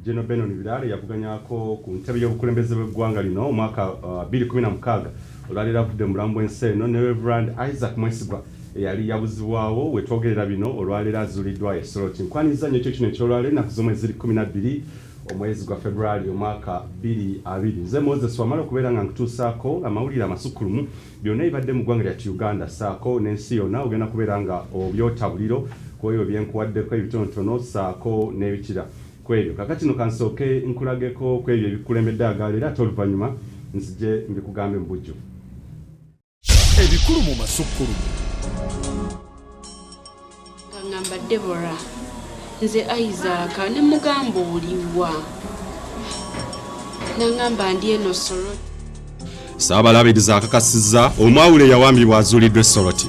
General Benon Birare yavuganyako ku ntebe y'obukulembeze bw'eggwanga lino omwaka 2016 uh, olwalero avudde mu mulambo w'ensi eno ne Reverend Isaac Mwesigwa eyali yabuzibwawo wetwogerera bino olwaleero azuliddwa e Soroti. Nkwaniriza nnyo ekyo kino ekyolwaleero ennaku z'omwezi ziri kkumi na bbiri omwezi gwa February omwaka bbiri abiri. Nze Moses wamala okubeera nga nkutuusaako amawulire amasukkulumu byonna ebibadde mu ggwanga lyattu Uganda ssaako n'ensi yonna ogenda kubeera nga obyota buliro kw'ebyo byenkuwaddeko ebitonotono ssaako n'ebikira kw'ebyo. Kakati no kansooke nkulageko kw'ebyo ebikukulembedde agaaleero ate oluvannyuma nzije mbikugambe mu bujjuvu. ebikulu mu masukkulumu nga ngamba debora nze isaaka ne mugamba oliwa nangamba ndi eno soroti saabalabiriza akakasiza omwawule yawambibwa azuuliddwa esoroti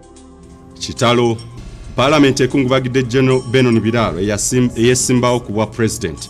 kitalo palamenti ekungubagidde general benon biraalo eyesimbawo ku bwa pulezidenti